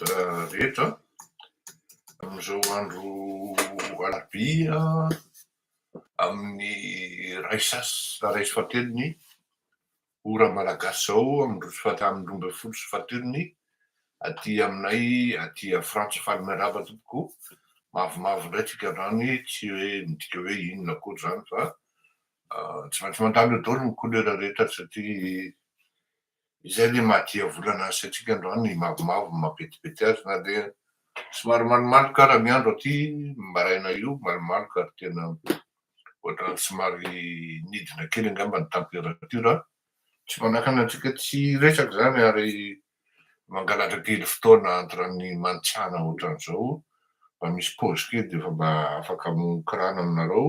rehetra amin'izao andro alarobia amin'ny iray sy sasany iray sy fahatelon'ny ora malagasy izao amin'ny roa sy fahatelony roa ambin'ny folo sy fahatelony aty aminay aty Frantsa faly miarahaba tompoko mavomavo indray tsika androany tsy hoe midika hoe inona akory izany fa ah, tsy maintsy mandalo eo daholo ny couleur rehetra satria Izay le mahadia volana azy sy antsika androany ny mavomavo ny mampetipety azy na dia somary malomaloka ara ny andro aty maraina io malomaloka ary tena ohatrany somary nidina kely angamba ny temperature tsy manakana antsika tsy hiresaka izany ary mangalatra kely fotoana entre ny mantsana ohatran'izao mba misy pause kely dia efa mba afaka mikorana aminareo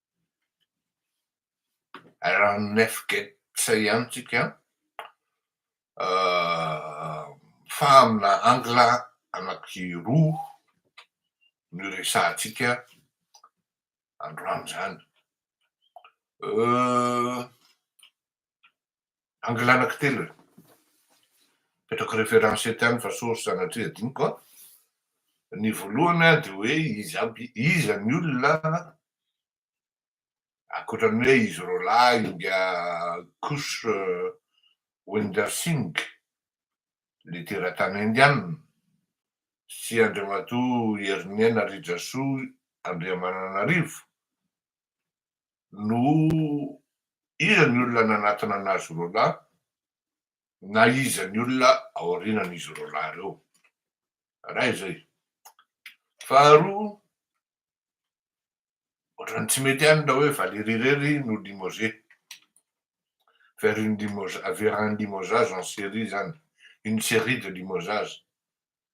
Raha ny Nef Gets ihany tsika fa amina angle anaky roa no iresahantsika androany izany. Angle anaky telo e. Apetrako reference eto ihany fa source sanatria adinoko a. Ny voalohany dia hoe izy aby, iza ny olona ankoatran'ny hoe izy roalahy inga Kush Winder Singh, le teratany indiana, sy Andriamatoa Heriniaina Rijasoa Andriamananarivo, no iza ny olona nanatona an'azy roa lahy na iza ny olona aorianan'izy roa lahy ireo. Iray izay. Faharoa, ohatran'ny tsy mety ihany ilay hoe Valérie irery no limogé vers une vers un limogeage en série izany, une série de limogeage.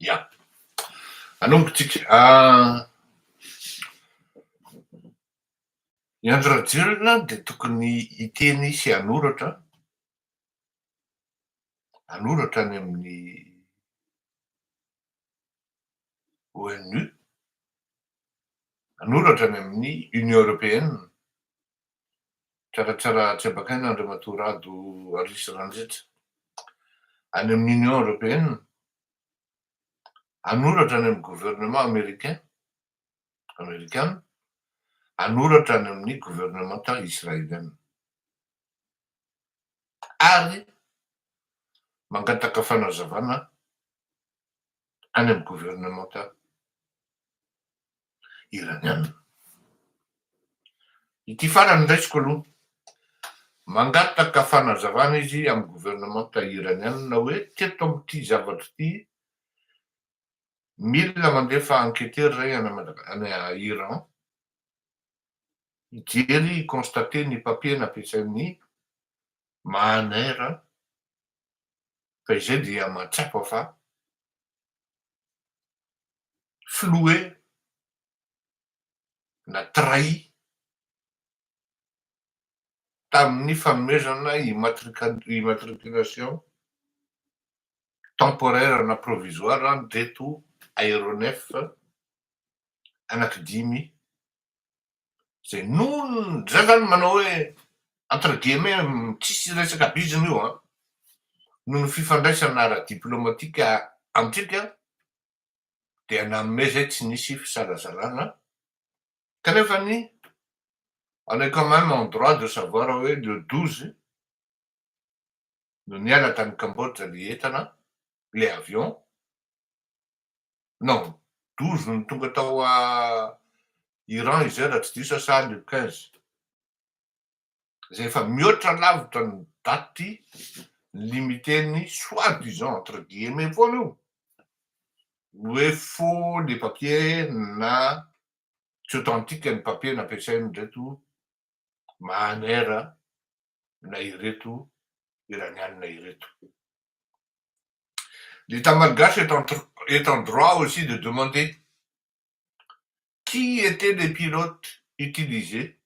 Ya. Anomboka tsika. I Andry Rajoelina dia tokony hiteny sy hanoratra, hanoratra any amin'ny ONU, hanoratra any amin'ny Union Européenne, Tsaratsara tsy abakaina Andriamatoa Rado Arisy Randritra any amin'ny Union Européenne hanoratra any amin'ny gouvernement Américain, Amerikana, hanoratra any amin'ny gouvernementa Israélienne ary mangataka fanazavana any amin'ny gouvernementa Iraniana. Ity farany raisiko aloha. Mangataka fanazavana izy amin'ny governemanta Iraniana hoe teto amin'ity zavatra ity mila mandefa enquêteur iray any Iran hijery hi-constater ny papier nampiasain'i Mahaner fa izay dia mahatsapa fa flouer na trahi tamin'ny fanomezana immatriculation temporaire na provisoire an'ireto aéronef anankidimy izay noho izany izany manao hoe entre guillemets tsisy resaka bizina io an, noho ny fifandraisana ara-diplomatika amintsika dia nanome izay tsy nisy fisalasàlana kanefa ny on est quand même en droit de savoir hoe le douze no niala tany Cambodge le entana le avion non douze no tonga tao Iran izay raha tsy diso aho sa le quinze izay efa mihoatra lavitra ny date limite-n'ny soit disant entre guillemets foana io ny hoe faux le papier na tsy authentique ny papier nampiasain'ireto Mahaner na ireto Iraniana ireto. L'Etat malgache est en est en droit aussi de demander qui était les pilotes utilisés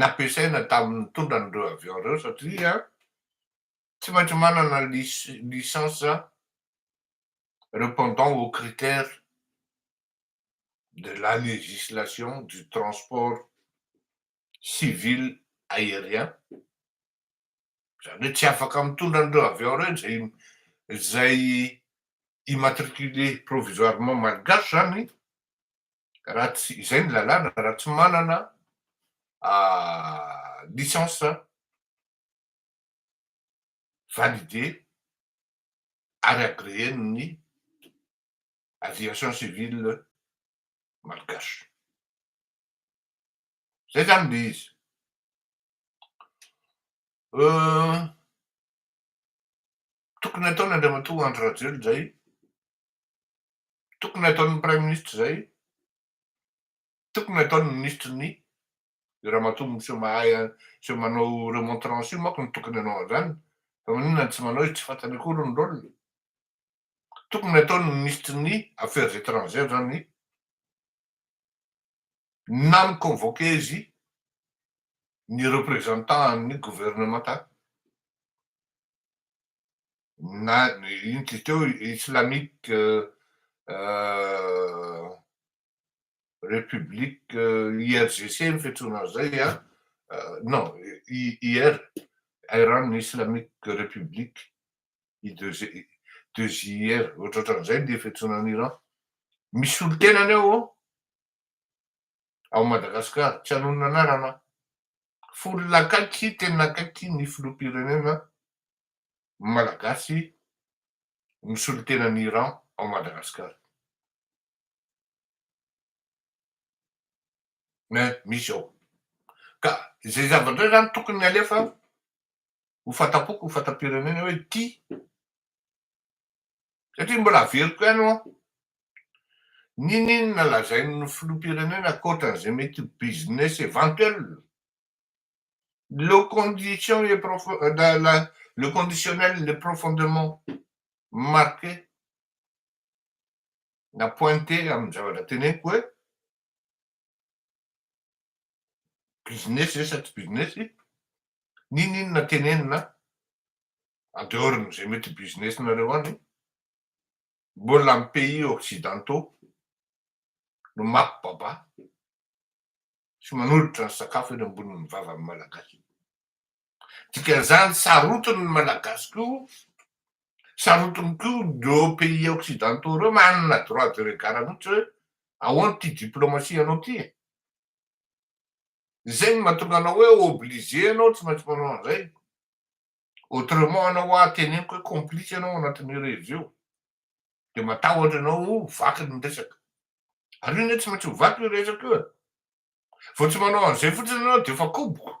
nampiasaina tamin'ny nitondra an'ireo avion ireo satria tsy maintsy manana licence repondant aux critères de la législation du transport civil aérien, izany hoe tsy afaka mitondra an'ireo avion ireo izay izay immatriculé provisoirement malgache izany raha tsy, izay ny lalàna, raha tsy manana licence validée ary agreer-n'ny aviation civile malgache. Izay izany ilay izy. Tokony ataon' Andriamatoa Andry Rajoelina izay, tokony ataon'ny Praiminisitra izay, tokony ataon'ny Minisitry ny Io ramatoa miseho mahay miseho manao remontrance io manko no tokony hanao an'izany fa maninona no tsy manao izy tsy fantany akory ny rôle-ny. Tokony ataon'ny Minisitry ny Affaires étrangères izany. Nan-convoquer izy ny representant an'ny gouvernementa na iny izy teo Islamic Republic IRGC ny fiantsoana azy izay an, non IR, Iran Islamic Republic, i De JR, ohatrohatran'izay ny fiantsoana an'i Iran. Misy solontenany ao ao, ao Madagasikara, tsy hanonona anarana aho. Fony akaiky, tena akaiky ny filoham-pirenena malagasy ny solontenan'i Iran ao Madagasikara. Misy ao. Ka izay zavatra izay izany tokony alefa ho fanta-poko, ho fanta-pirenena hoe tia, satria mbola averiko ihany hoa, n'inon'inona lazain'ny filoham-pirenena ankoatran'izay mety ho business eventuel, le condition est profond-la-la le conditionnel est profondement marqué na pointé amin'ny zavatra teneniko hoe, Business ve sa tsy business? Ninoninona tenenina en dehors ny ze mety business nareo any? Mbola am pays occidentaux no mako baba sy manolotra ny sakafo eny ambonin'ny vavan'ny malagasy. Dikan'izany sarotiny ny Malagasy koa, sarotiny koa ireo pays occidentaux ireo manana droit de regard mihitsy hoe ahoana ity diplomatie anao ity e? Izay no mahatonga anao hoe obligé ianao tsy maintsy manao an'izay, autrement anao hoa teneniko hoe complice ianao anatin'io rehetra io, dia matahotra ianao ho vaky ny resaka. Ary io anie tsy maintsy ho vaky io resaka io e! Vao tsy manao an'izay fotsiny ianao dia efa koboko.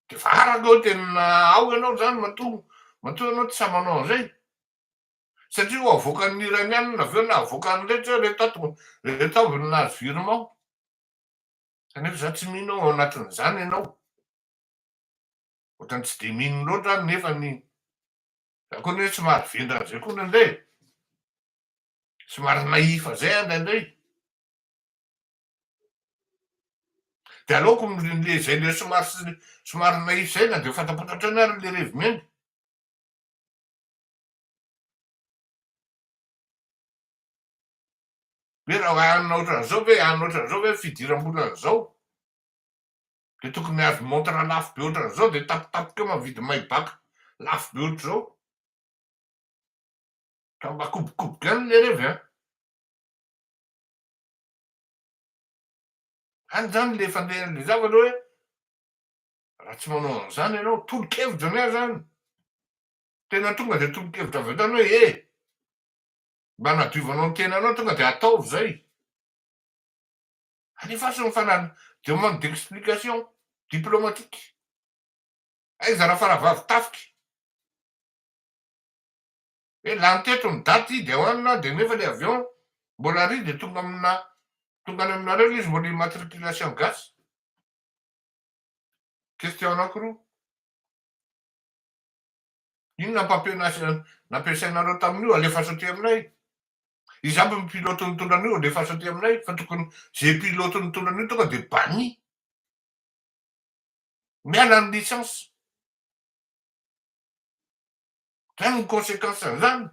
De fa araka eo tena ao ianao zany matoa matoa ianao tsy sahy manao an'izay. Satria ho avoakan'ny Iranianina avy eo na avoakan'ny rehetra hoe reto ato reto avy no nahazo virement. Kanefa za tsy mino ao anatin'izany ianao. Ohatran'ny tsy de mino loatra aho nefany za koa anie somary vendrana zay koa ndraindray e. Somary nahifa zay aho ndraindray. De aleoko le zay le somary somary naïf zay na de fantampantatra any ary le revy miainga. Ve raha hanina ohatran'izao ve hanina ohatran'izao ve fidiram-bola an'izao de tokony hahazo montre lafo be ohatran'izao de tapitapika eo mavidy maybach lafo be ohatr'izao ka mba kobokoboko ihany le revy an. Any zany le fandehan'le zavatra hoe raha tsy manao an'zany ianao, tolo-kevitra angaha zany, tena tonga de tolo-kevitra avy hatrany hoe eh! mba hanadiovanao ny tenanao tonga de ataovy zay, alefaso ny fanal, demande d'explication diplomatique, aiza Rafaravavy tafika? hoe lany teto ny daty i Dewan dia nefa ilay avion mbola ary dia tonga amina tonga any aminareo ilay izy mbola immatriculation gasy? Question anankiroa. Inona papier nampiasainareo tamin'io alefaso aty aminay? Izy aby ny pilote nitondra an'io alefaso aty aminay fa tokony ze pilote nitondra an'io tonga dia banni. Miala ny licence. Zany ny consequence an'izany.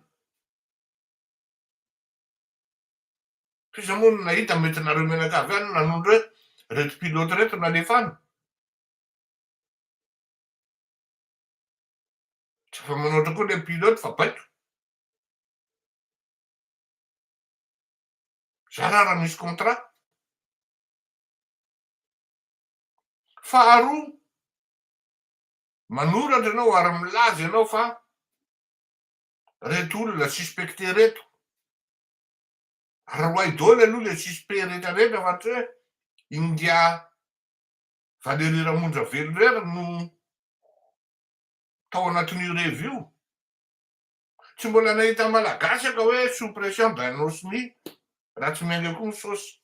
F'iza moa no nahita mety nareo mianakavy any nanondro hoe reto pilote reto nalefana. Tsy afa manoatra koa le pilote fa baiko. Za ra raha misy contrat. Faharoa, Manoratra ianao ary milaza ianao fa reto olona suspecte reto. Aroahy daholo aloha le suspect rehetra rehetra fa tsy hoe Ingahy Valery Ramonja Velirera no tao anatin'io revy io. Tsy mbola nahita malagasy aka hoe sous pression Bain'Osmy raha tsy miainga koa ny sosy.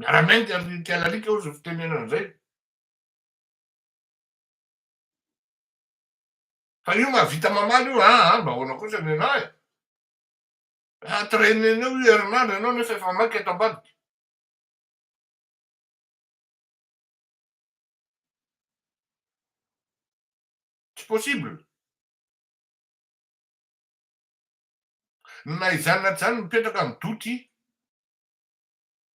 Miara-miainga ry Michael alika hoy izay fitenenana izay. Fa io mahavita mamaly io, ah, ah, mba ahoana kosa nenao e. Entraîner anao io herinandro ianao nefa efa maika eto ambadika. Tsy possible. Na izany na izany mipetraka amin'ny doute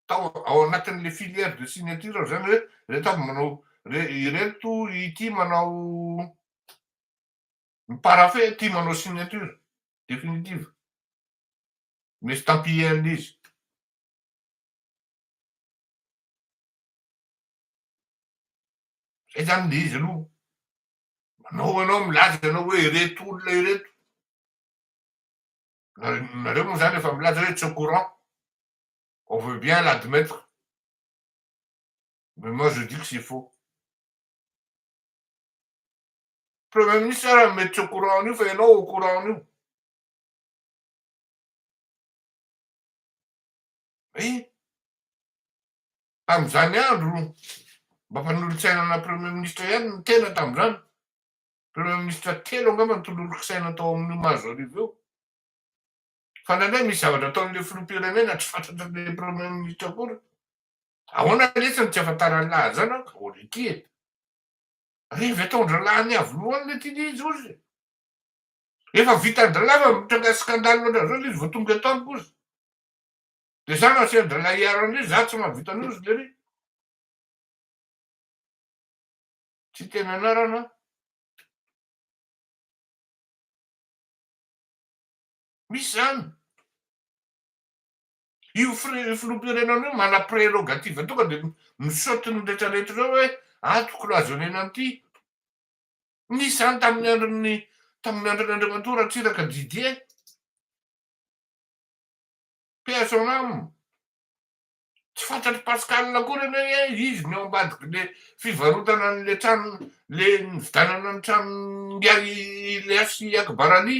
tao ao anatin'ilay filière de signature ao izany hoe ireto avy manao ireto ity manao mi-paraphe ity manao signature définitive ny estampillé an'ilay izy. Izay izany ilay izy aloha. Manao ianao milaza ianao hoe ireto olona ireto. nareo moa zany efa milaza hoe tsy au courant on veut bien l'admettre mais moi je dis que c'est faux premier ministre ara mety tsy au courant an'io fa ianao au courant an'io eh tamin'izany andro mba mpanolotsainana premier ministre ihany ny tena tamin'izany Premier ministra telo angamba no tololonkisaina tao amin'io Mazo Arivo io. Fa nandray misy zavatra ataon'ilay filoham-pirenena tsy fantatran'ilay Premier ministra akory. Ahoana letsy no tsy afantaran'ny lahy an'izany an, ka ohatry ity e. Revy ataon-dralahy ny avy lohany letsy ity izy ozy. Efa vitan-dralahy fa mitranga scandale ohatr'izao ilay izy vao tonga eto amiko ozy. Dia za no asian-dralahy hiaro an'ilay izy, za tsy mahavita an'io ozy lery. Tsy tena anarana. Misy izany. Io filoham-pirenana io mana prerogative tonga dia mi-saute ny rehetra rehetra ireo hoe ato cloisonner-na an'ity. Nisy izany tamin'ny andron'ny tamin'ny andron'ny Andriamatoa Ratsiraka Didier. Paix à son âme. Tsy fantatr'i Pascal akory anie hoe izy no eo ambadik'ilay fivarotana an'ilay trano, ilay nividianana ny tranon'ingahy Leha sy i Akbar Ali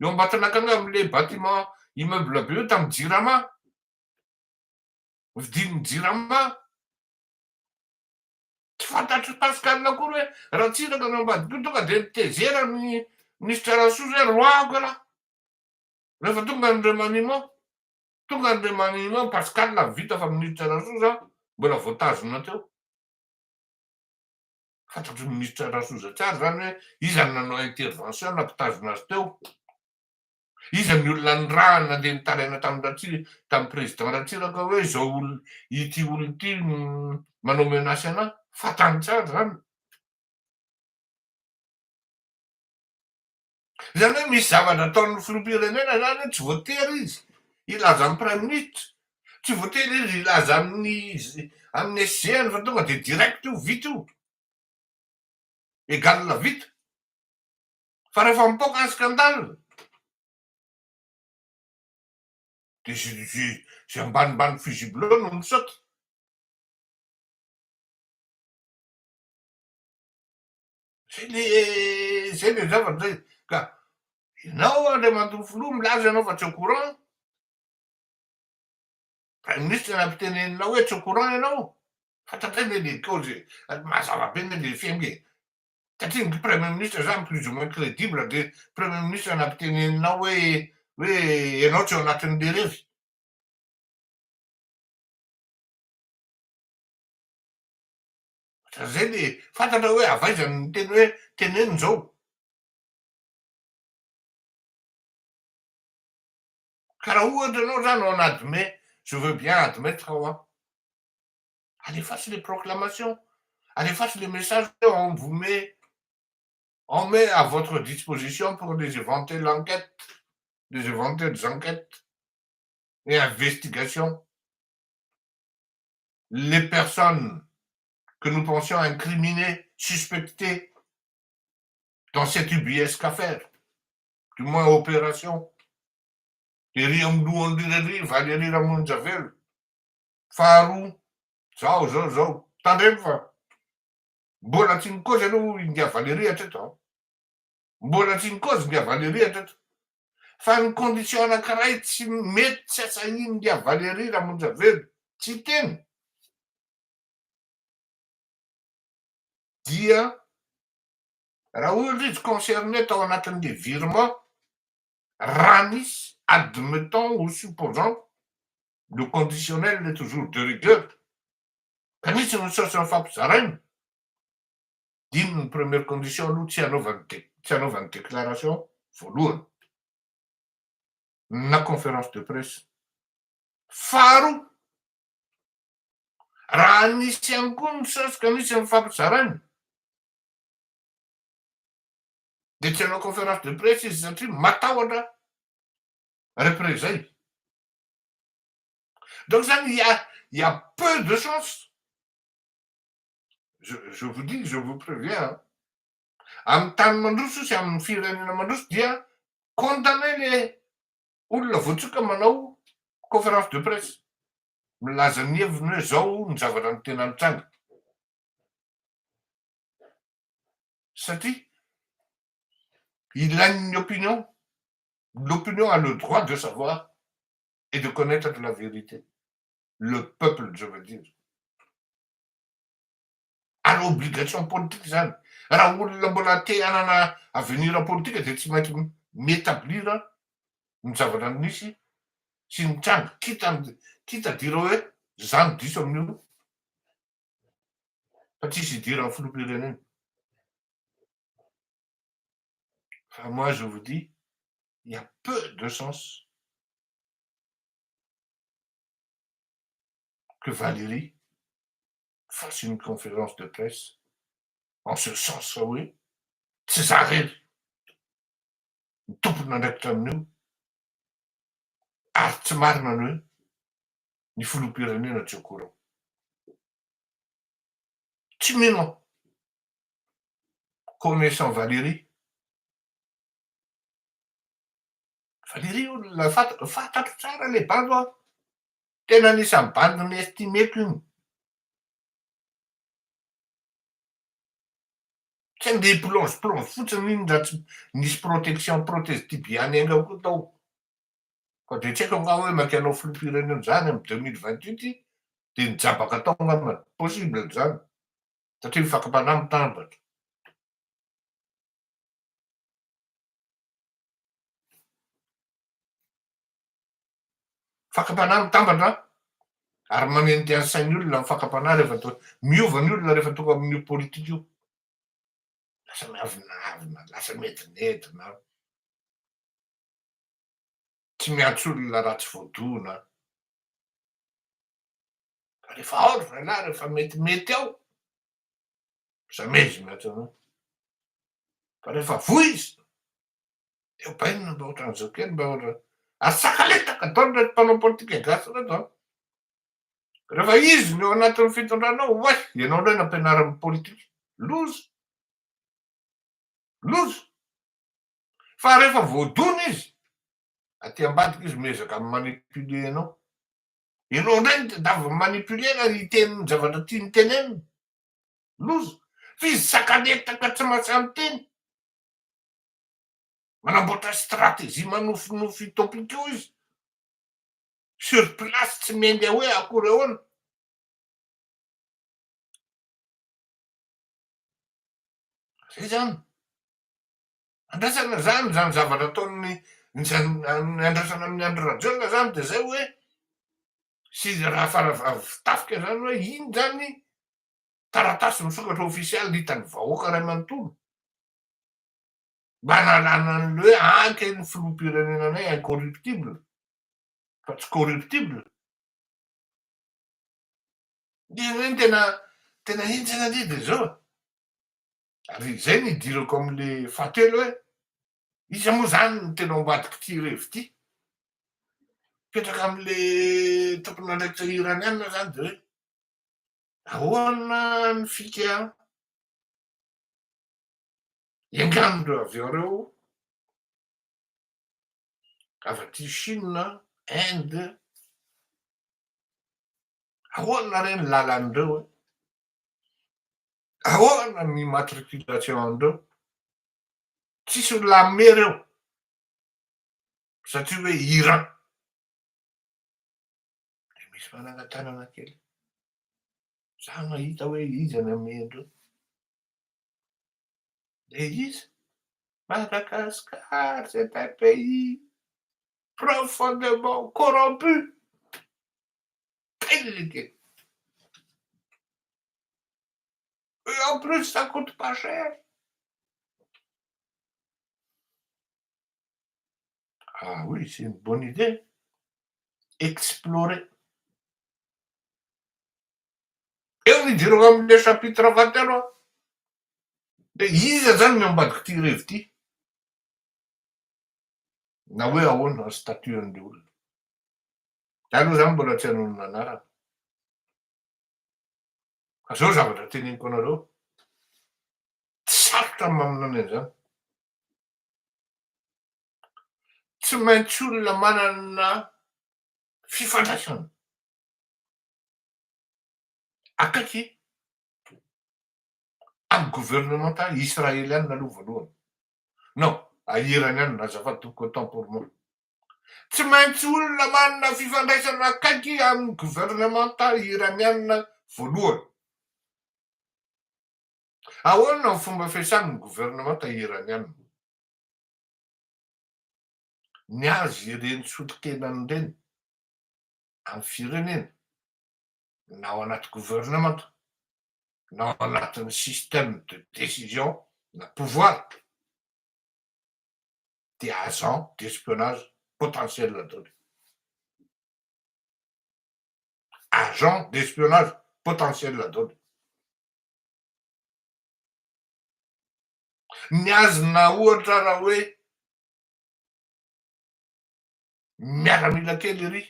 eo Ambatonakanga amin'ilay bâtiment immeuble be io tamin'ny Jirama. Vidian'ny Jirama. Tsy fantatr'i Pascal akory hoe Ratsiraka no ambadik'io, tonga dia nitezera ny minisitra Rasoa hoe roahako ialahy rehefa tonga ny remaniement. Tonga ny Remani Imam Pascal avy vita fa Minisitra Rasoza mbola voatazona teo. Fantatry ny Minisitra Rasoza tsara zany hoe iza no nanao intervention nampitazona azy teo. Iza ny olona nirahany nandeha nitaraina tamin'i Ratsi tamin'i Président Ratsiraka hoe izao olona ity olona ity manao menace anah. Fantany tsara zany. Izany hoe misy zavatra ataon'ny filoham-pirenena izany hoe tsy voatery izy hilaza amin'ny praiminisitra, tsy voatery izy hilaza amin'ny amin'ny SG-ny fa tonga dia direct io, vita io, égal vita. Fa rehefa mipoaka ny scandale dia izay izay izay ambanimbany fusible eo no misaoty. Zay le zay le zavatra zay ka ianao Andriamatoa Filoha milaza ianao fa tsy au courant, Prime Ministre nampiteneninao hoe tsy au courant ianao, fantatray ve le kaozy e, mazava be ve le fiainga e, satria ny Premier Ministre zany plus ou moins crédible de Premier Ministre nampiteneninao hoe hoe ianao tsy ao anatin'le revy. Ohatra zay le fantatra hoe avy aiza ny teny hoe teneno zao. Ka raha ohatra anao zany on admet, je veux bien admettre ao an, alefaso le proclamation, alefaso le message hoe on vous met, on met à votre disposition pour les éventuelles enquêtes, les éventuelles enquêtes et investigations. les personnes que nous pensions incriminées, suspectées dans cette ubuesque affaire, du moins opération, ery amin'ny lohan'ireo ery, Valerie Ramonjavelo, faharoa, zao, zao, zao. Tandremo fa mbola tsy nikozy aloha i India Valerie hatreto an! Mbola tsy ny cause nga Valery hatreto fa ny condition anakiray tsy mety tsy asahin nga Valery Ramonjavelo tsy hiteny dia raha ohatra izy concerné tao anatin le virement raha misy admettons ou supposons le conditionnel est toujours de rigueur ka nisy ny source nifampizaraina Inn ny première condition aloha tsy hanaovany de tsy hanaovany déclaration voalohany na conférence de presse. Faharoa, raha nisy ihany koa ny sas ka misy nifampizaraina de tsy hanao conférence de presse izy satria matahotra représailles. Donc zany il y a il y a peu de chance je, je vous dis, je vous préviens, amin'ny tany mandroso sy amin'ny firenena mandroso dia condamné le olona voatsoka manao conférence de presse milaza ny heviny hoe zao ny zavatra ny tena nitranga satria ilain'ny opinion l'opinion a le droit de savoir et de connaître la vérité le peuple je veux dire ary obligation politique zany raha olona mbola te hanana avenir politique dia tsy maintsy mi-etablir ny zavatra misy sy mitranga quitte quitte à dire hoe za no diso amin'io fa tsisy hidiran'ny filoham-pirenena fa moi je vous dis il y a peu de sens que Valérie fasse une conférence de presse en ce sens fa hoe tsy za rery no tompon'andraikitra amin'io ary tsy marina ny hoe ny filoham-pirenena tsy au courant. Tsy mino aho. Connaissant Valérie. Valérie, fantatro tsara ilay bandy an. Tena anisan'ny bandy mi-estimeko iny. Tsy andeha hi-plonge plonge fotsiny iny raha tsy nisy protection protège tibia ny ainga koa tao. Fa dia tsy haiko angaha hoe maika hanao filoham-pirenena izany amin'ny deux mille vingt huit dia nijabaka tao angamba. Possible izany satria ny fakam-panahy mitambatra. Fakam-panahy mitambatra ary manentehà ny sain'ny olona ny fakam-panahy rehefa tonga, miova ny olona rehefa tonga amin'io politika io. Lasa miavonavona, lasa miedinedina, tsy miantso olona raha tsy voadona. Fa rehefa ao ry zalahy, rehefa metimety ao, lasa mihezona hatrany hoe. Fa rehefa voizina, Dia bainina mba ohatran'izao kely mba ohatran'ny ary tsakaletaka daholo ireto mpanao politika gasy ireto an. Rehefa izy no eo anatin'ny fitondrana ao, oay, ianao indray nampianarin'ny politika. Loza. Loza. Fa rehefa voadona izy, aty ambadika izy miezaka mi-manipuler anao. Ianao indray no tadiaviny mi-manipuler na hiteny ny zavatra tiany tenenina. Loza. Fa izy tsakaletaka tsy mahatsamy teny. Manamboatra stratégie manofinofy utopique io izy. Sur place tsy miainga hoe akory ahoana. Zay zany. Andrasana zany zany zavatra ataon'ny ny andrasana amin'ny Andry Rajoelina zany de zay hoe sy raha fara tafika zany hoe iny zany taratasy misokatra ofisialy hitan'ny vahoaka iray manontolo mba nalana an'ilay hoe anke ny filoham-pirenenanay incorruptible fa tsy corruptible. Dia ireny tena tena henjana indray dia izao e! Ary izay no idirako amin'ilay fahatelo hoe iza moa izany no tena ao ambadik'ity revy ity? Mipetraka amin'ilay tompon'andraikitra Iraniana izany dia hoe Ahoana ny fika? Enganin'ireo avy eo ireo avy aty Chine, Inde, ahoana re ny lalan'ireo e? Ahoana ny immatriculation an'ireo? Tsisy olona hanome ireo satria hoe Iran. dia misy fanangan-tanana kely. Za mahita hoe iza ny amin'ireo. Dia iza? Madagascar, c'est un pays profondément corrompu. Pelike. Et en plus, ça coûte pas cher. Ah oui, c'est une bonne idée. Explorer. Eo ny idirako amin'ilay chapitre fahatelo a. Dia iza izany ny ao ambadik'ity revy ity? Na hoe ahoana ny statut an'ilay olona. Za aloha izany mbola tsy hanonona anarana. Fa izao zavatra teneniko anareo, tsy sarotra ny maminana an'izany. Tsy maintsy olona manana fifandraisana akaiky amin'ny governemanta Israeliana aloha voalohany. Non, a Iraniana azafady tompoko, autant pour moi. Tsy maintsy olona manana fifandraisana akaiky amin'ny governemanta Iraniana voalohany. Ahoana ny fomba fiasan'ny governemanta Iraniana ny azy ireny solontenany ireny amin'ny firenena na ao anaty governemanta na ao anatin'ny système de décision na pouvoir dia agent d'espionnage potentiel daholo. Agent d'espionnage potentiel daholo. Ny azy na ohatra raha hoe miaramila kely iry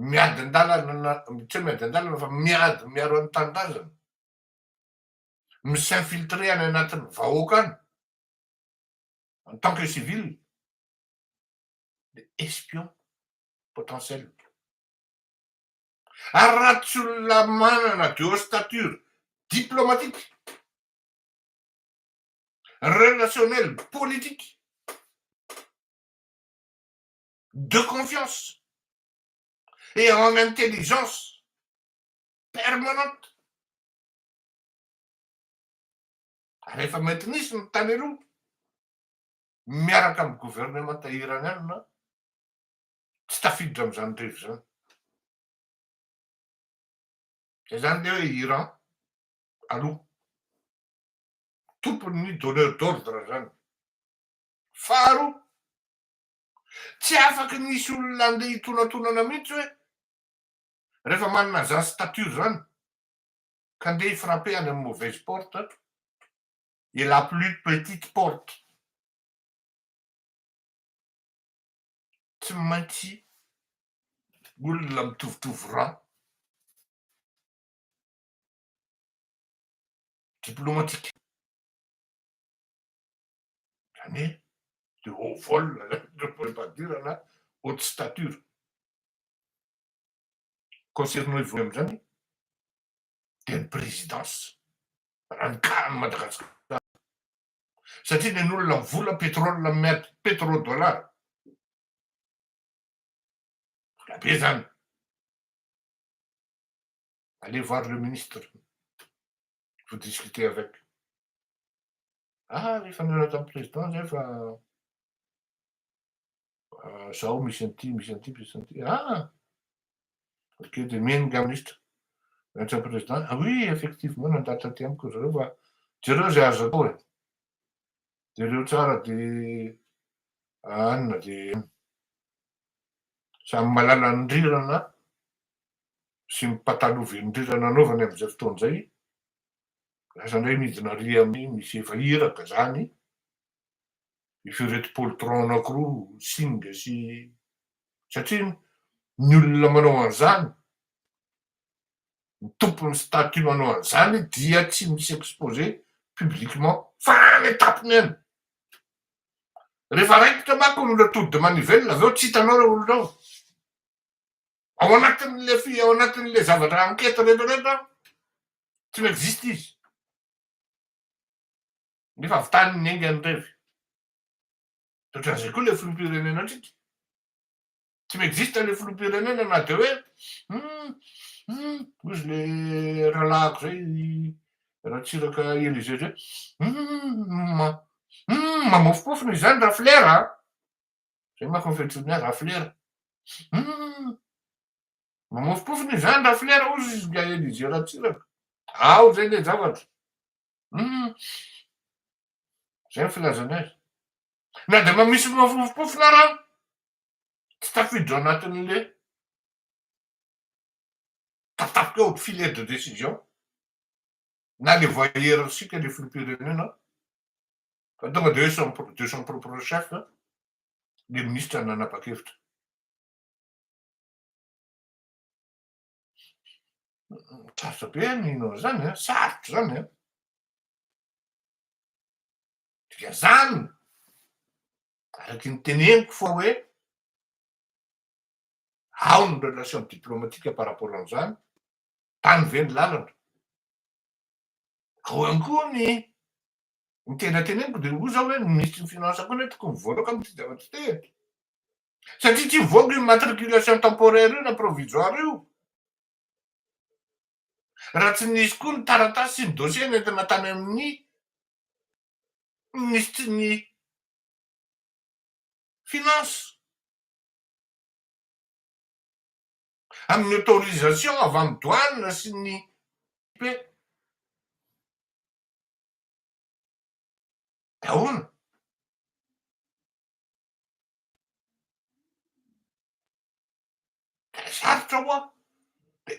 miady an-dalana na tsy hoe miady an-dalana fa miady miaro ny tanindrazana, mi-s'infiltrer any anatin'ny vahoaka any en tant que civil dia espion potentiel. Ary raha tsy olona manana de haute stature diplomatique, relationnelle, politique, de confiance et en intelligence permanente, ary efa mety nisy ny tany aloha miaraka amin'ny gouvernemanta iraniana tsy tafiditra amin'izany rery izany. Izay izany dia hoe Iran aloha. Tompon'ny donneur d'ordre izany. Faharoa, tsy afaka ny hisy olona handeha hitonantonana mihitsy hoe rehefa manana izany statut izany ka handeha hi-frapper any amin'ny mauvaise porte et la plus petite porte. tsy maintsy olona mitovitovy rang. Diplomatique. Zany hoe de haut vol na haute stature. Concernant i Voalohany amin'izany dia ny présidence raha ny cas an'i Madagasikara. satria nen'olona vola pétrole miady petro dollar vola be zany allez voir le ministre vous discutez avec ah rehefa miaraka amin'ny président zay fa Ah, zaho misy an'ity, misy an'ity, misy an'ity. Ah! Ok, dia miheno nga minisitra. Miantsa ny président. Ah oui, effectivement, nandalo taty amiko zareo fa jereo izay azo atao e. Jereo tsara dia anina dia samy malala ny rirana sy ny pataloven'ny rirana anaovany amin'izay fotoana izay. Lasa indray midina ry amin'ny misy efa iraka izany. efa ireto poltron anakiroa singa sy satria ny olona manao an'izany ny tompon'ny statut manao an'izany dia tsy misy exposé publiquement fa any an-tampony any rehefa raikitra manko ny olona tody manivelona avy eo tsy hitanao ireo olona ao ao anatin'le fi ao anatin'le zavatra enquête rehetra rehetra tsy mi-existe izy Nefa avy tany ny enga ny revy. De ohatran'izay koa le filoham-pirenena ndrika. Tsy mi-existe le filoham-pirenena na de hoe hum hum hoy izy le rahalahiko zay Ratsiraka Elisée zay hum ma hum mamofopofona izany raflera a! Zay manko ny fiantsoany ahy raflera. Hum mamofopofona izany raflera hozy izy nga Elisée Ratsiraka. Ao zay le zavatra. Humm. Zay ny filazany azy. Na dia mba misy miofompofona ara, tsy tafiditra ao anatin'le tatapika ao filet de décision na le voie hiérarchique le filoham-pirenena fa tonga dia hoe de son propre chef le ministra nanapa-kevitra. Sarotra be ny hino an'izany an, sarotra izany an. Dikan'izany, araky ny teneniko fa hoe ao ny relation diplomatique par rapport an'izany, tany ve ny lalana? Ao ihany koa ny ny tena teneniko dia hoy za hoe ny minisitry ny finance koa anie tokony voaloka amin'ity zavatra ity e. Satria tsy hivoaka io matriculation temporaire io na provisoire io raha tsy nisy koa ny taratasy sy ny dossier nentina tany amin'ny minisitry ny finance amin'ny autorisation avy amin'ny douane sy ny p ahoana Sarotra hoa.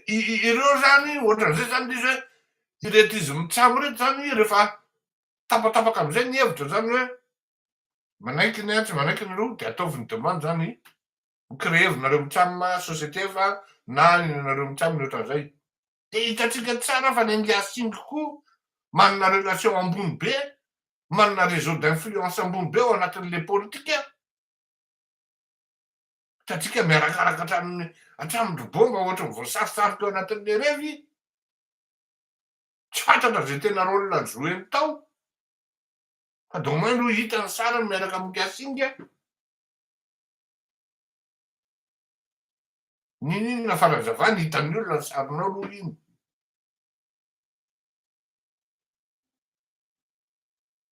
Ireo zany ohatran'izay zany izy hoe ireto izy mitsam ireto zany rehefa tapatapaka amizay ny hevitra zany hoe manaiky ny atsy manaiky ny eroa de ataovy ny demande zany ho créer-vinareo mitsam société fa na ny anareo mitsam ny ohatran'izay. Dia hitantsika tsara fa ny India Singh koa manana relation ambony be, manana réseau d'influence ambony be ao anatin'ilay politika. Hitantsika miarakaraka hatramin'ny hatramin'ny ry Bomba ohatra ny voasarisary teo anatin'ilay revy. Tsy fantatra izay tena rôle jouer-ny tao. Fa de au moins aloha hita ny sariny miaraka amin'i India Singh. N'inon'inona fanazavana hitan'ny olona ny sarinao aloha iny.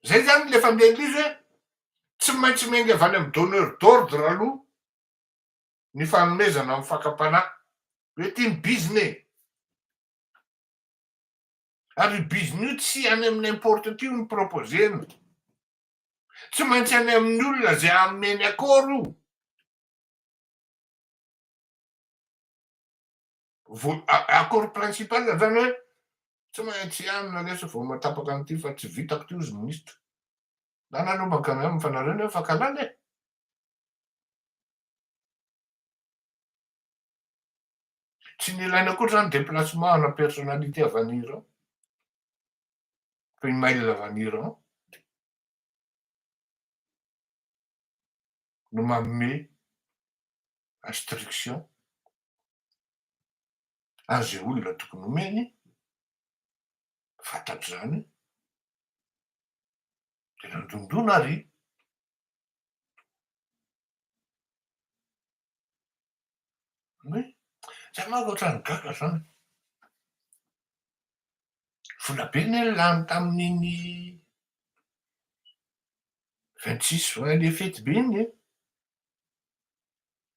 Zay zany le fandeham-bizo e! Tsy maintsy miainga avy any amin'ny donneur d'ordre aloha ny fanomezana amin'ny fakam-panahy. Hoe ity ny bizina e! Ary io bizina io tsy any amin'ny n'importe qui no proposer-na. Tsy maintsy any amin'ny olona zay ameny accord io. Accord principal zany hoe tsy maintsy ihany na lesy vao matapaka an'ity fa tsy vitako ity ozy ministra. Zany aloha manka miam fa nareo ne efa kalala e. Tsy nilaina akory zany déplacement ana personnalité avy any Iran. Fa i mail avy any Iran. no manome instruction an'izay olona tokony homeny fatratra izany dia nandondona ary Zay manko otrany gaga zany. Vola be ne lany tamin'iny vingt six juin le fety be iny e,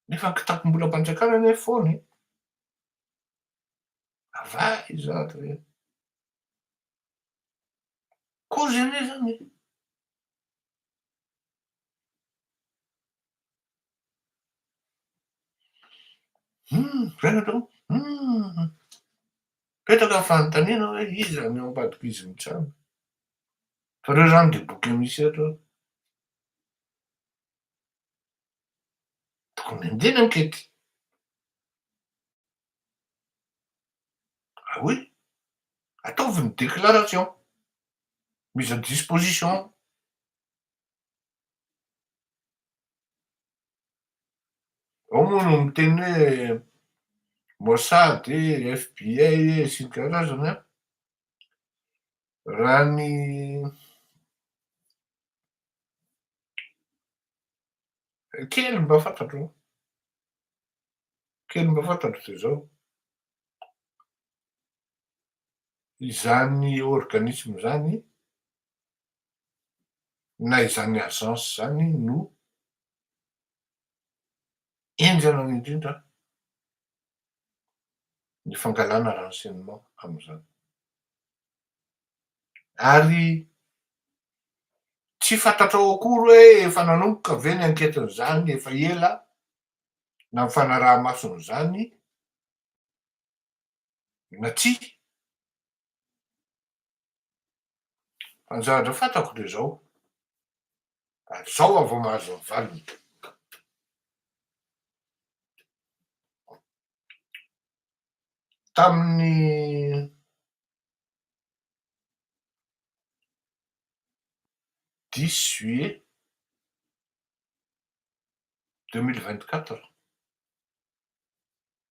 nefa kitapom-bolam-panjakana anie foana e, avay izato e, kozy anie zany e. Petraka ny fanontaniana hoe iza no eo ambadik'i izy mitsabo. Fa ireo izany dia boky misy eto. Tokony andiany ankety. Ah oui, ataovy ny déclaration, mise à disposition. Ao moa no miteny hoe Mossad, FBI sy ny karazany an. Raha ny kely mba fantatro, kely mba fantatro dia izao, izany organisme izany na izany agence izany no henjana indrindra ny fangalana renseignement amin'izany. Ary tsy fantatrao akory hoe efa nanomboka ve ny anketin'izany efa ela na ny fanaraha-mason'izany na tsia. Ny zavatra fantako dia izao, ary izao aho vao mahazo ny valiny. Tamin'ny dix juillet deux mille vingt quatre,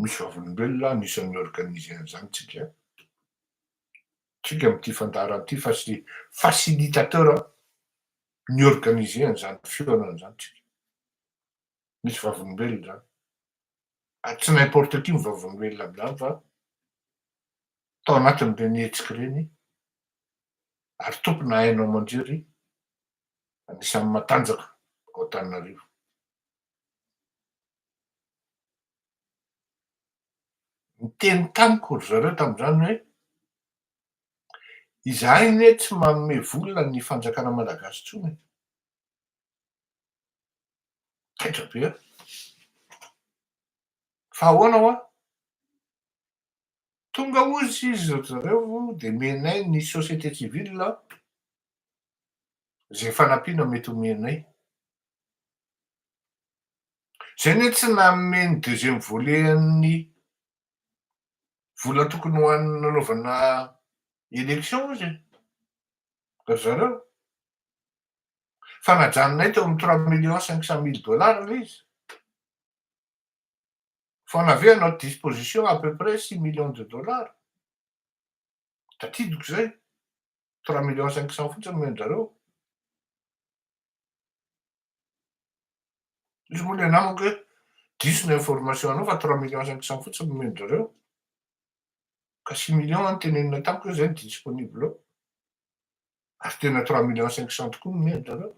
Misy vavolombelona anisan'ny organiser an'izany tsika. Tsika amin'ity fandaharana ity fa tsy facilitateur ny organiser an'izany fihaonana izany tsika. Misy vavolombelona izany. Ary tsy n'importe qui ny vavolombelona amin'izany fa tao anatin'ireny hetsika ireny ary tompona haino aman-jery anisan'ny matanjaka ao Antananarivo. Niteny tamiko ry zareo tamin'izany hoe, izahay anie tsy manome vola ny fanjakana malagasy intsony e! Taitra be aho. Fa ahoana hoa? Tonga hozy izy ry zareo dia menay ny société civile izay fanampiana mety homenay. Izay ny hoe tsy nanome ny deuxième volet an'ny vola tokony ho an'ny nanaovana élection izy e. Ry zareo. Fa najanonay teo amin'ny trois millions cinq cent mille dollars ilay izy. Fa on avait à notre disposition à peu près six millions de dollars. Tadidiko izay. trois millions cinq cents fotsiny omeny zareo izy moa le namako hoe diso ny information anao fa trois millions cinq cents fotsiny omeny zareo ka six millions any tenenina tamiko hoe zay ny disponible ao ary tena trois millions cinq cents tokoa omeny zareo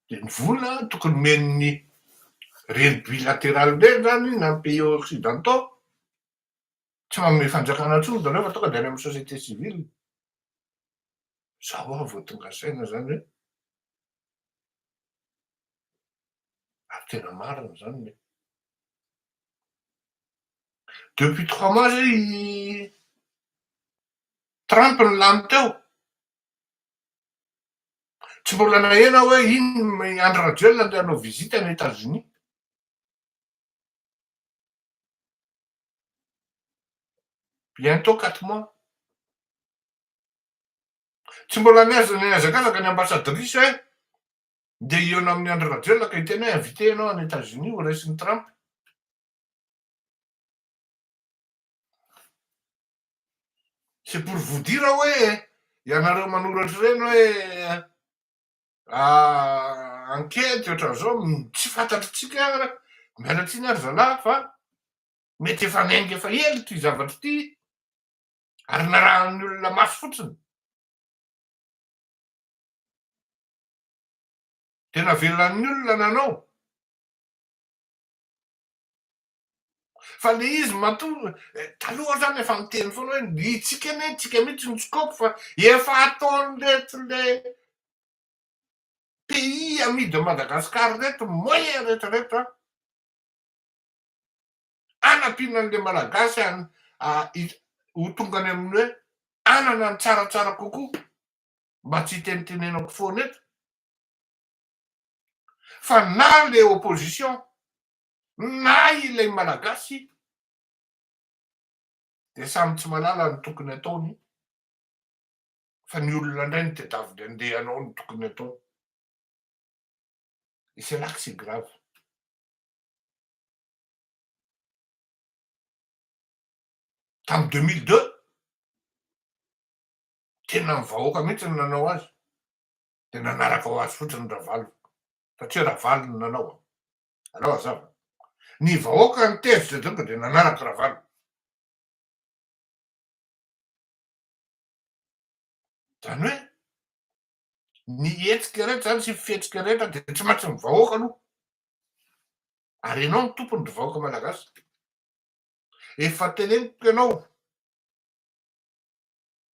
Dia ny vola tokony homen'ny reny bilateral reny zany na ny pays occidentaux tsy manome fanjakana intsony zareo fa tonga dia any amin'ny société civile. Zao aho vao tonga saina zany hoe ary tena marina zany le. Depuis trois mois zay i. Trump no lany teo. Tsy mbola naheno aho hoe iny i Andry Rajoelina andeha hanao visite any Etazonia. Bientôt quatre mois. Tsy mbola nihaza- nihazakazaka ny ambassadrice hoe ndeha hihaona amin'i Andry Rajoelina ka hiteny hoe invité ianao any Etazonia ho raisin'i Trump. C'est pour vous dire hoe ianareo manoratra ireny hoe enquête ohatran'izao tsy fantatritsika ara, miala tsiny ary zalahy fa mety efa niainga efa ela ity zavatra ity ary narahan'ny olona mafy fotsiny. Dia navelan'ny olona nanao. Fa le izy matoa taloha zany efa miteny foana hoe ny itsika anie itsika mihitsy ny scope fa efa ataony reto le pays ami de Madagascar reto moyen rehetra rehetra anampiana an'le malagasy ho tonga any amin'ny hoe anana ny tsaratsara kokoa mba tsy hitenitenenako foana eto fa na le opposition Na ilay Malagasy dia samy tsy malala ny tokony ataony fa ny olona indray no tedaviny andeha anao ny tokony ataony. Et c'est là que c'est grave. Tamin'ny 2002, tena ny vahoaka mihitsy no nanao azy, dia nanaraka ho azy fotsiny Ravalo, satria Ravalo no nanao. Alao azava. Ny vahoaka ny tezitra drongo dia nanaraka Ravalo. Zany hoe ny hetsika rehetra zany sy fihetsika rehetra dia tsy maintsy ny vahoaka aloha. Ary ianao ny tompony ry vahoaka malagasy. Efa teneniko ianao.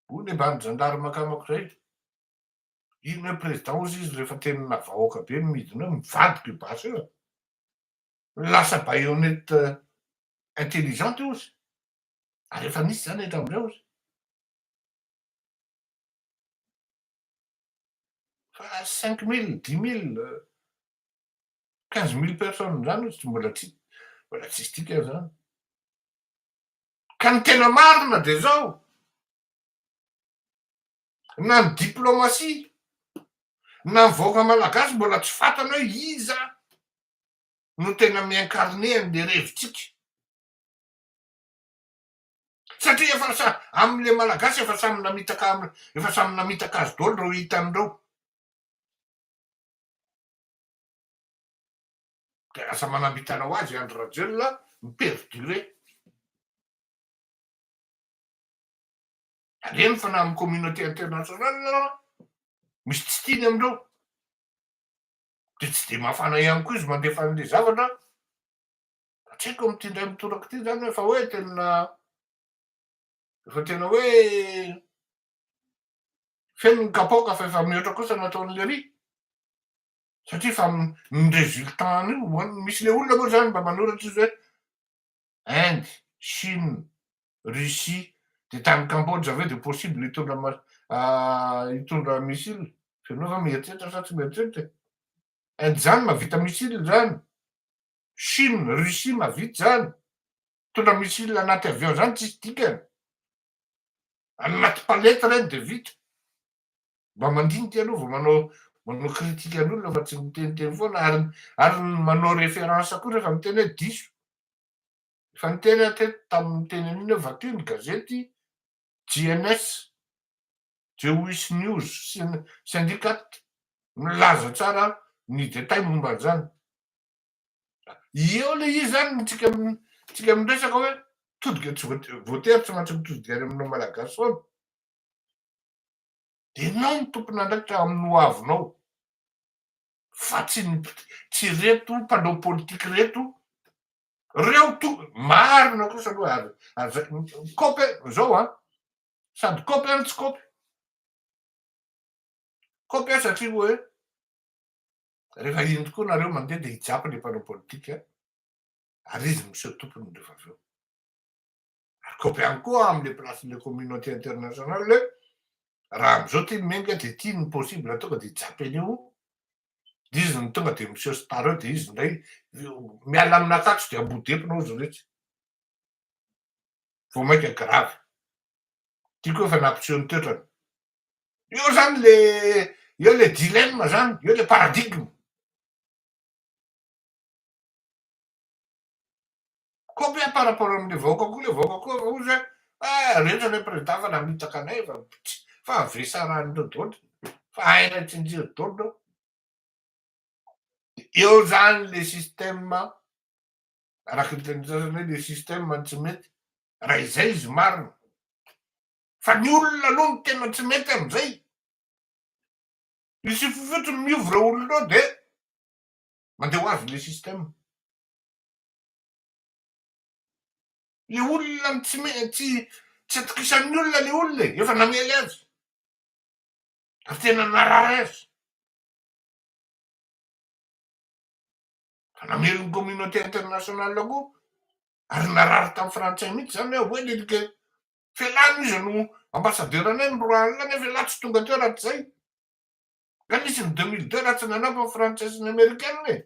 Hoy ny ambany zandary makamako izay. Inona hoe président ozy izy rehefa tenina vahoaka be no midina eo, mivadika io basy io e. Lasa baïonnette intelligente ozy. Ary efa nisy zany hatramizay ozy. Fa cinq mille, dix mille, quinze mille personnes zany ozy mbola tsy mbola tsisy dikany zany. Ka ny tena marina de zao. na ny diplomatie, na ny vahoaka malagasy mbola tsy fantany hoe iza no tena mi-incarner an'le revitsika. Satria efa sa amle malagasy efa samy namitaka efa samy namitaka azy daholo reo hitany reo. De lasa manam-bitana ho azy i Andry Rajoelina mi-perdurer. Alehany fa na amin'ny communauté internationale aza misy tsy tiany amin'ireo. Dia tsy dia mafana ihany koa izy mandefa an'ilay zavatra an. Tsy haiko amin'ity indray mitoraka ity izany hoe efa hoe tena efa tena hoe feno ny kapoaka fa efa mihoatra kosa ny ataon'i Léry. Satria fa ny résultat-ny io, misy ilay olona moa izany mba manoratra izy hoe Inde, Chine, Russie, dia tany Cambodge ve dia possible hitondra hitondra missile? Fenao va mieritreritra sa tsy mieritreritra e? Inde zany mavita missile zany, Chine, Russie mavita zany, mitondra missile anaty avion zany tsisy dikany, Anaty palette ireny dia vita. Mba mandinika aloha vao manao manao critique an'olona fa tsy miteniteny foana ary ary ny manao référence koa rehefa miteny hoe diso. Efa niteny aho teto tamin'ny teny an'iny hoe vato iny gazety JNS, Jewish News Syn- Syndicat milaza tsara ny détail momba an'izany. Eo le izy zany tsika tsika miresaka hoe todika tsy voatery tsy maintsy mitodika any aminao malagasy foana. Dia enao no tompon'andraikitra amin'ny ho avinao fa tsy ny tsy reto mpanao politika reto reo to marina kosa aloha ary aza kopy zao a sady kopy any tsy kopy kopy a satria hoe Rehefa iny tokoa nareo mandeha dia hijapy le mpanao politika ary izy miseho tompony rehefa avy eo. Ary kopy ihany koa amle place le communauté internationale raha amizao ty menga dia ty ny possible tonga dia hijapy an'io dia izy ny tonga dia miseho star eo dia izy ndray miala amina akatso dia ambodepina ozy retsy. Vao mainka grave. Tiako efa nampiseho ny toetrany. Eo zany le eo le dilemme zany, eo le paradigme. Combien par rapport amin'ny vahoaka koa le vahoaka koa efa ozy hoe eh rehetra le président fa namitaka anay fa tsy fa avesarandreo dôly fa hainay tsinjiro dôly reo. Eo zany le système araky ny tenin'ny sasany hoe le système no tsy mety raha izay izy marina. Fa ny olona aloha no tena tsy mety amin'izay. Misy fofotsiny miova ireo olona ireo dia mandeha ho azy ilay système. Ilay olona no tsy me- tsy tsy atokisan'ny olona ilay olona e, efa namely azy ary tena narary azy. Fa namely ny communauté internationale koa ary narary tamin'ny frantsay mihitsy izany hoe, voyez les gars, F'elah aloha izy no ambassadeur-nay ny roa alina nefa elah tsy tonga teo raha tsy zay. Ka nisy ny deux mille deux raha tsy nanao fa frantsay sy ny amerikana e.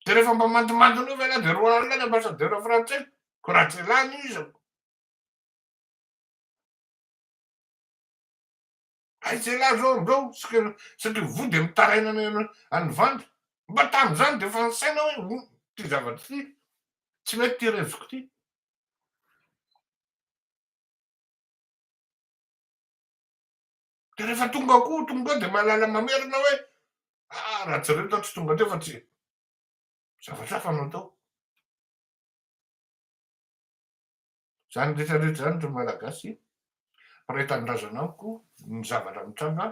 Dia rehefa mba mandomando an'io ve elah dia roa alina ny ambassadeur frantsay ko raha tsy elah no izy. Aiza ialahy zao amboa o, satria voa dia mitaraina any any vanda, mba tamin'izany dia efa nisaina hoe ity zavatra ity tsy mety ity reviko ity. Dia rehefa tonga koa tonga eo dia mahalala mamerina hoe ah raha tsy reto aho tsy tonga teo fa tsy zavatra hafa no atao. Izany rehetra rehetra izany ry Malagasy, mpiray tanindrazana amiko, ny zavatra mitranga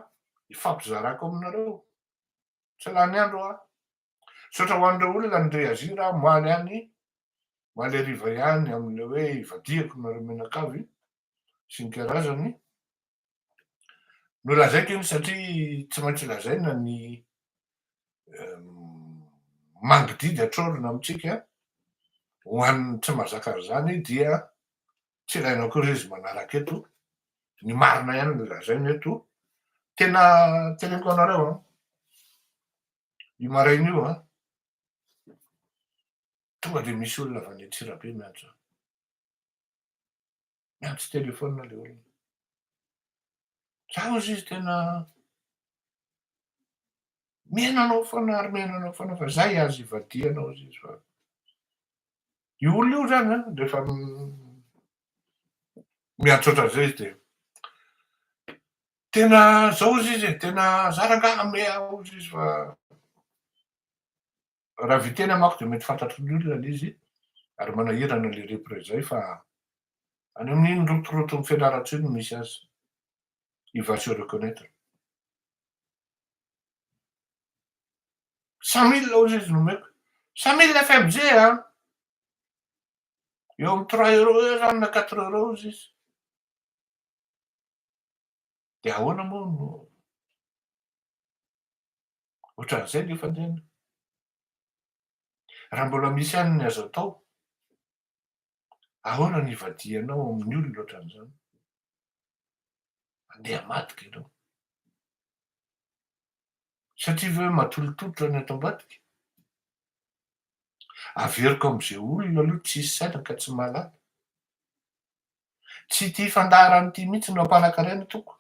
hifampizarako aminareo. Tsy lany andro aho. Misaotra ho an'ireo olona nireagir aho omaly any, omaly hariva ihany amin'ilay hoe ivadihako nareo mianakavy sy ny karazany. Nolazaiko iny satria tsy maintsy lazaina ny mangididy atrolona amintsika ho an'ny tsy mazaka an'izany dia tsy ilaina akory izy manaraka eto ny marina ihany no lazaina eto tena teneniko anareo an i maraina io an tonga dia misy olona avy any Antsirabe miantso Niantso telefaonina ilay olona. Zaho izy tena miaina anao foana ary miaina anao foana fa zay azy ivadihanao izy izy fa io olona io zany an rehefa miantso ohatran'izay izy dia tena zao izy izy tena za rangahy ame aho izy izy fa Raha viteny amako dia mety fantatry ny olona le izy ary manahirana le repre zay fa any amin'iny rotoroton'i Fianarantsoa iny no misy azy. Il va se reconnaître. Cent mille hozy izy nomeko. Cent mille FMJ a! Eo amin'ny trois euros eo zany na quatre euros hozy izy. Dia ahoana moa no Ohatran'izay ny fandehana. Raha mbola misy ihany ny azo atao, ahoana ny hivadihanao amin'ny olona ohatran'izany? Andeha madika ianao. Satria ve matolotolotra ny ato ambadika? Averiko amin'izay olona aloha tsisy saina ka tsy mahalala. Tsy ity fandaharana ity mihitsy no ampanan-karena tompoko.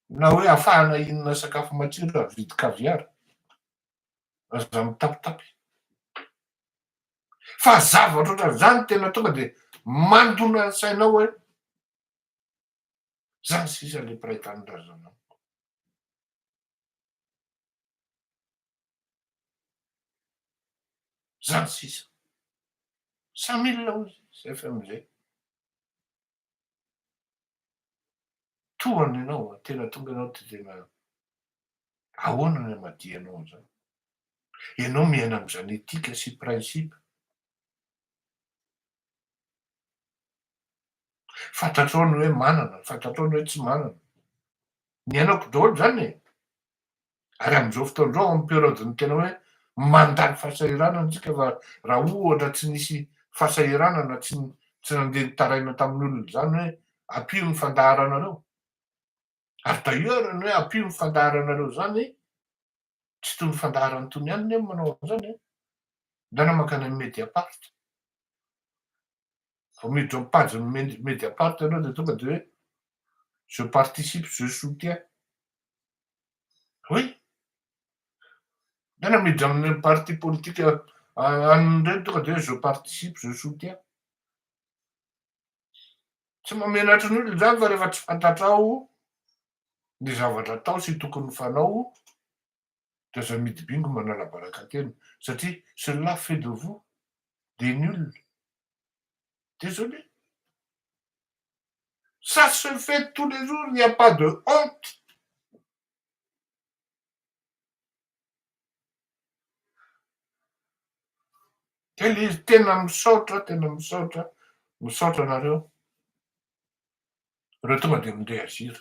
na hoe afahana hinana sakafo matsiro ary vidy caviar, aza mitapitapy. Fa zavatra ohatran'izany tena tonga dia mandona ny sainao hoe zany sisa le mpiray tanindrazana amiko. Zany sisa. Samila hoy izy, FMG. Tohano ianao an, tena tonga ianao dia tena ahoana ny hamadihanao an'izany? Ianao miaina amin'izany éthique sy principe. Fantatrao ny hoe manana, fantatrao ny hoe tsy manana. Niainako daholo izany e! Ary amin'izao fotoana izao amin'ny période-n'ny tena hoe mandany fahasahiranana isika fa raha ohatra tsy nisy fahasahiranana tsy tsy nandeha nitaraina tamin'ny olona izany hoe ampio ny fandaharanareo. Ary d'ailleurs ny hoe ampio ny fandaharanareo izany tsy toy ny fandaharan'ny tony ihany ny manao an'izany. Nanamaka ny Mediapart. vao miditra amin'ny page-n'ny Mediapart ianao dia tonga dia hoe je participe, je soutiens. Oui. Tena miditra amin'ny parti politique an'ny ireny tonga dia hoe je participe, je soutiens. Tsy mamenatra ny olona izany fa rehefa tsy fantatrao ny zavatra atao sy tokony fanao de aza midy bingo manalabaraka tena satria cela fait de vous des nuls desolé ça se fait tous les jours il n'y a pas de honte kely izy tena misaotra tena misaotra misaotra anareo ireo tonga de mindeha aziry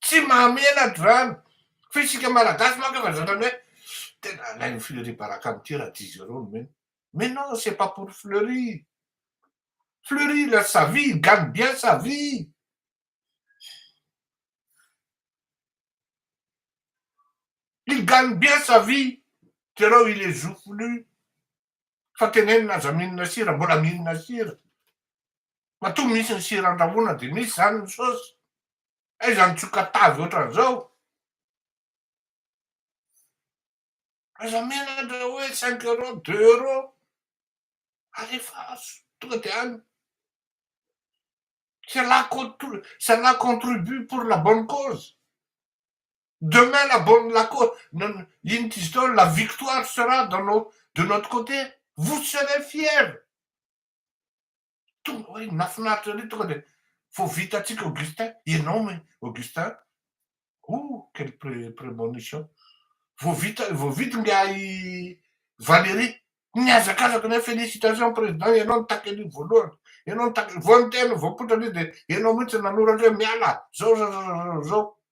Tsy mahamenatr'izany, fa isika malagasy manko efa zatra ny hoe tena alain'i Fleury baraka amin'ity raha tsy izy ireo nomena. Mais non, c'est pas pour Fleury. Fleury il a sa vie, il gagne bien sa vie. Il gagne bien sa vie, jereo il est joufflu. fa tenenina aza mihinana sira mbola mihinana sira matoa misy ny sira andrahoana dia misy zany ny saosy aiza ny tsoka tavy ohatran'izao aza menatra hoe cinq euro deux euro alefa azo tonga dia any cela contribue pour la bonne cause Demain la bonne la co inona izy teo la victoire sera dans nos de notre cote vous serez fier tonga hoe nafinaritra ery tonga dia vao vita antsika Augustin ianao me Augustin oh quelle pré prémonition vao vita vao vita ingahy Valérie nihazakazaka na félicitations président ianao nitaky an'io voalohany ianao nitaky vao niteny vao poitra an'io dia ianao mihitsy nanoratra hoe miala zao zao zao zao zao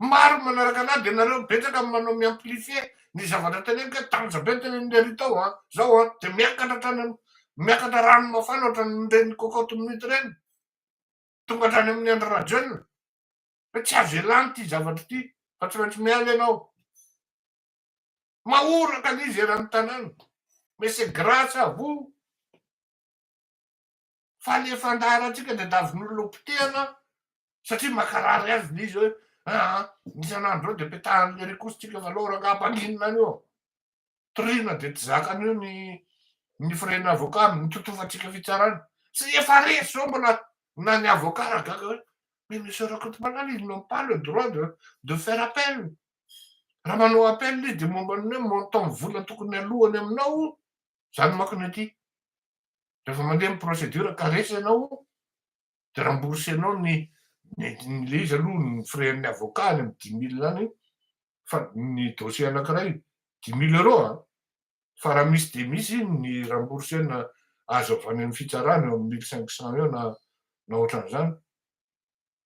Maro manaraka anah de nareo betsaka no manao mi-amplifie ny zavatra teneniko hoe tanja be ny tenenin'i Ry tao a, zao a, de miakatra hatrany am, miakatra rano mafana ohatran'ireny cocotte minute ireny, tonga hatrany amin'i Andry Rajoelina, hoe tsy azo ialany ty zavatra ty fa tsy maintsy miala ianao. Mahoraka l'izy eran'ny tanàna mais c'est grace à vous. Fa le fandaharantsika dia davin'olona ho potehana satria mankarary azy le izy hoe aa isan'andro zao dia petahan'le rikos tsika fa aleo rangah mpanginina any eo. Toriana dia tsy zakan'io ny ny frais-n'ny avocat amin'ny totofantsika fitsarana. Tsy efa resy zao mbola na ny avocat ra gaga hoe mais monsieur Rakotomalala ils n'ont pas le droit de de faire appel. Raha manao appel izy dia momba ny hoe montant vola tokony aloany aminao zany manko no ety. Rehefa mandeha ny procédure caresse ianao de rembourser anao ny ny le izy aloha ny frais an'ny avocat any amin'ny dix mille any fa ny dossier anankiray dix mille euros a! fa raha misy dia misy iny ny rembourser na azo avy any amin'ny fitsarana eo amin'ny mille cinq cents eo na na ohatran'izany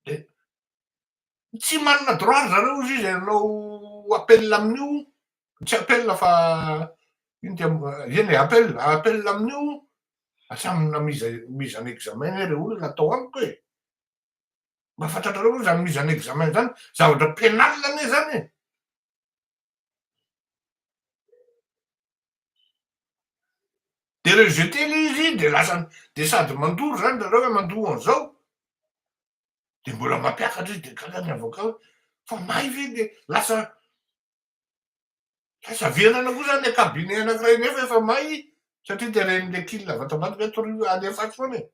dia Tsy manana droit ry zareo juge e, alao appel amin'io, tsy appel fa ino ty am, eny e, appel, appel amin'io, atsamina mise, mise en examen anie rey olona atao amiko e, mba fantatrareo ve zany mise en examen zany, zavatra penal anie zany e. De rejeter le izy de lasa, de sady mandoro zany ry zareo hoe mandoa an'zao, dia mbola mampiakatra izy dia gaga ny avoka hoe fa may ve dia lasa lasa venana koa zany le kabine anankiray nefa efa may satria dia ren'le kil avatambato ve torio alefatsy foana e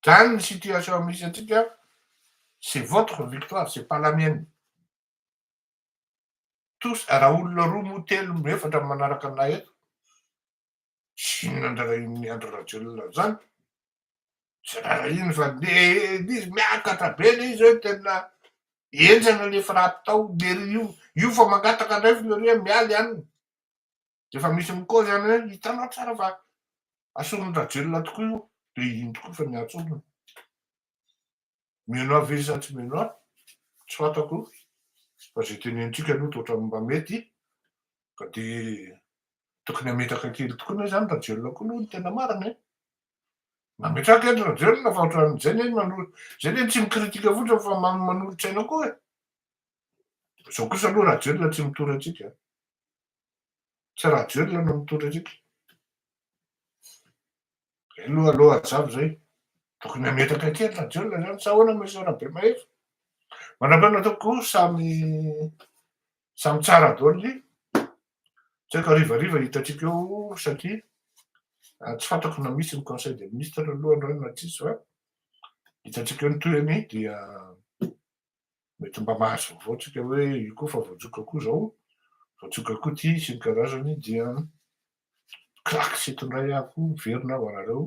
zany ny situation misy antsika c'est votre victoire c'est pas la mienne tous raha olona roa moa telo moa efatra manaraka anay eto Tsy inona andrarahin'i Andry Rajoelina zany, tsy rarahiny fa nely izy, miakatra be le izy hoe tena enjana le frappe tao, de ry io, io fa mangataka indray Fleuriet miala ihany, de efa misy mi-cause ihany hoe hitanao tsara fa ason'i Rajoelina tokoa io, de iny tokoa efa niantsoana. Menoir ve izy sa tsy menoir? Tsy fantako fa izay tenenitsika aloha toa ohatran'ny mba mety ka dia tokony hametraka kely tokoa ne izany Rajoelina koa aloha no tena marina e! Mametraha kely Rajoelina fa ohatran'izay ne manolo izay ne tsy mi-critique fotsiny fa manolo-tsaina koa e! Izao kosa aloha Rajoelina tsy mitory antsika, tsy Rajoelina no mitory antsika. Zay aloha aloha hajavy zay. Tokony hametraka kely fa jiolona zany sa ahoana Monsieur Rabemahefa? Manam-pahaizana tompoko o, samy samy tsara daholo ny tsy haiko harivariva hitantsika eo satria tsy fantako na misy ny conseil des ministres aloha androany na tsisy fa hitantsika eo ny tohiny dia mety mba mahazavao tsika hoe io koa fa voatsoka koa zao voatsoka koa ty sy ny karazany dia crac sy eto indray aho koa miverina aho anareo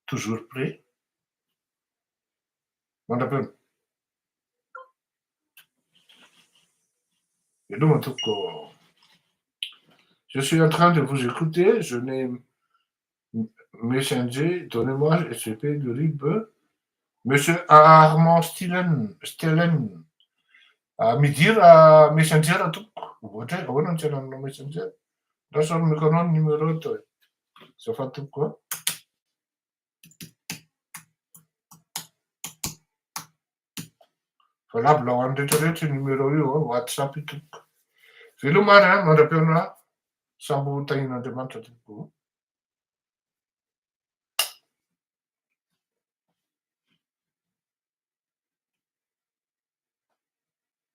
toujours prêt mandra-peo veloma tompoko je suis en train de vous écouter je n'ai Messenger, donnez-moi SGP de rib, Monsieur Armand Stilen, Stelen, ah, midira Messenger tompoko, ohatra hoe ahoana no tsy hanananao Messenger? Ndao sao nomeko anao ny numéro to e, azafady tompoko a. Valabla ho an'ny rehetra rehetra io numéro io a, whatsapp io tompoko. Veloma ary a, mandra-peo anà, sambo ho tahian'Andriamanitra tompoko o.